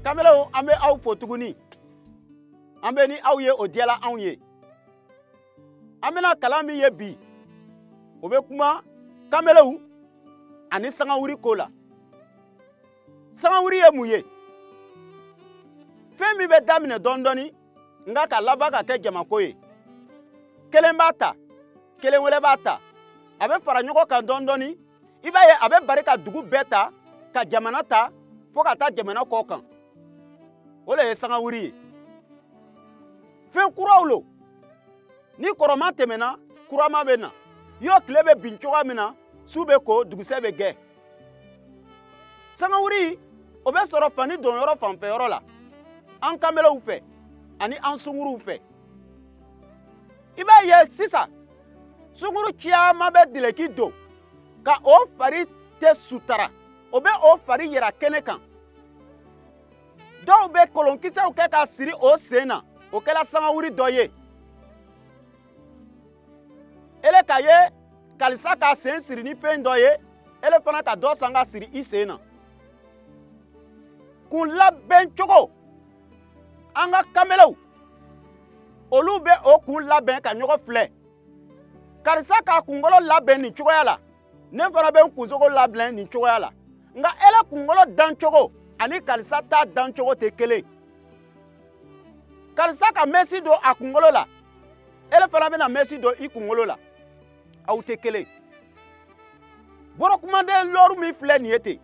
kamelew an bɛ aw fo tuguni an bɛ ni aw ye o diyala anw ye an bɛna kalan min ye bi o bɛ kuma kamelew ani sangawuri ko la sangawuri ye mun ye fɛn min bɛ daminɛ dɔɔni dɔɔni nka ka laban ka kɛ jamako ye kelen b'a ta kelen wɛrɛ b'a ta a bɛ fara ɲɔgɔn kan dɔɔni dɔɔni i b'a ye a bɛ bari ka dugu bɛɛ ta ka jamana ta fo ka taa jamana kɔ kan o le ye sangawuri ye fɛn kuraw lo ni kɔrɔma tɛmɛna kurama bɛ na yo tile bɛ bin cogoya min na su bɛ ko dugusɛ bɛ gɛ sangawuri o bɛ sɔrɔ fani donyɔrɔ fanfɛyɔrɔ la an kanbelew fɛ ani an sunguruw fɛ i b'a ye sisan sunguru caman bɛ dileki don ka o fari tɛ sutara o bɛ o fari yira kɛnɛ kan dɔw bɛ kolonkisɛw kɛ ka siri o sen na o kɛla sangawuri dɔ ye ele k'a ye kalisa ka sen siri ni fɛn dɔ ye ele fana ka dɔ san ka siri i sen na kun labɛn cogo an ka kamelew olu bɛ o kun labɛn ka ɲɔgɔn filɛ karisa k'a kunkolo labɛn nin cogoya la ne fana bɛ n kunsogo labɛn nin cogoya la nka ele kunkolo dancogo ani karisa ta dancogo tɛ kelen karisa ka mɛsi don a kunkolo la ele fana bɛna mɛsi don i kunkolo la aw tɛ kelen borokumaden looru min filɛ nin ye ten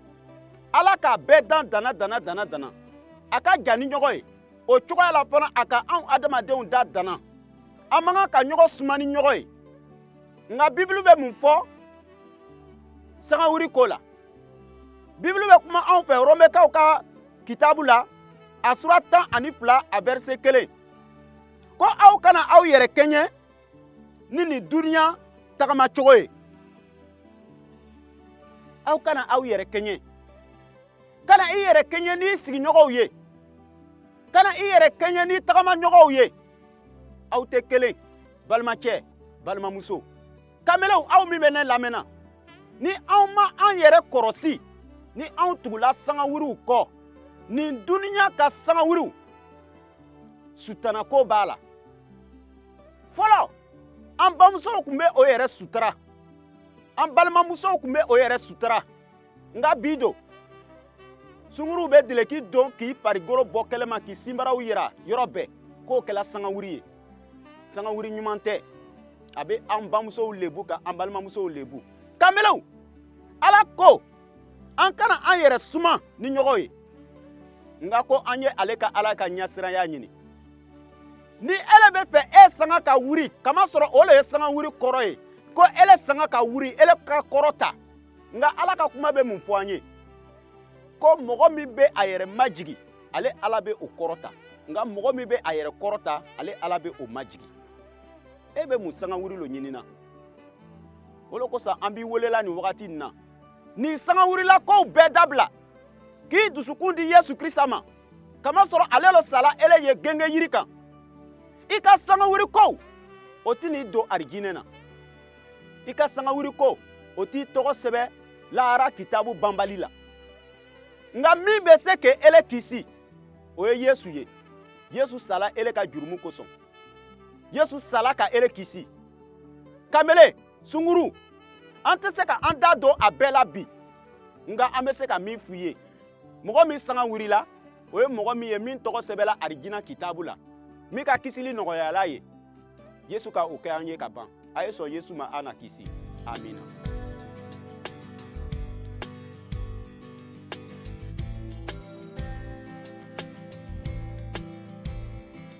ala k'a bɛɛ dan danna danna danna danna a ka jan ni ɲɔgɔn ye o cogoya la fana a ka anw adamadenw da danna an man kan ka ɲɔgɔn suma ni ɲɔgɔn ye nka bibulu bɛ mun fɔ sangawuri ko la bibulu bɛ kuma anw fɛ romɛkaw ka kitabu la a sura tan ani fila a vɛrise kelen ko aw kana aw yɛrɛ kɛɲɛ ni nin duniya tagamacogo ye aw kana aw yɛrɛ kɛɲɛ kana i yɛrɛ kɛɲɛ n'i sigiɲɔgɔnw ye kana i yɛrɛ kɛɲɛ n'i tagamaɲɔgɔnw ye aw tɛ kelen balimacɛ balimamuso kamelenw aw min bɛ ne lamɛnna ni anw ma an yɛrɛ kɔrɔsi ni anw tugula sangawuriw kɔ nin duniya ka sangawuriw sutanako b'a la fɔlɔ an bamusow tun bɛ o yɛrɛ sutura an balimamusow tun bɛ o yɛrɛ sutura nka bi don sunguruw bɛ dileki don k'i farigolo bɔ kɛnɛma k'i sinbaraw yira yɔrɔ bɛɛ k'o kɛla sangawuri ye sangawuri ɲuman tɛ a bɛ an bamusow lebu ka an balimamusow lebu kanbelew ala ko an kana an yɛrɛ suma ni ɲɔgɔn ye nka ko an ye ale ka ala ka ɲɛsiranya ɲini ni ele bɛ fɛ e sanga ka wuri kamasɔrɔ o le ye sangawuri kɔrɔ ye ko ele sanga ka wuri ele ka kɔrɔta nka ala ka kuma bɛ mun fɔ an ye ko mɔgɔ min bɛ a yɛrɛ majigi ale ala bɛ o kɔrɔta nka mɔgɔ min bɛ a yɛrɛ kɔrɔta ale ala bɛ o majigi e bɛ mun sangawuri lo ɲinina o le kosɔn an b'i welela nin wagati nin na nin sangawuri la kow bɛɛ dabila k'i dusukun di yesu krista ma kamasɔrɔ ale lo sala ele ye gengeyiri kan i ka sangawuri ko o t'i ni don arijinɛ na i ka sangawuri ko o t'i tɔgɔ sɛbɛ lahara kitabu banbali la nka min bɛ se ka ele kisi o ye yesu ye yesu sala ele ka jurumu kosɔn yesu sala ka ele kisi kanbele sunguru an tɛ se ka an da don a bɛɛ la bi nka an bɛ se ka min f'u ye mɔgɔ min sanga wurila o ye mɔgɔ min ye min tɔgɔ sɛbɛla arijina kitabu la min ka kisili nɔgɔyala ye yesu ka o kɛ an ye ka ban a ye sɔn yesu ma a na kisi amina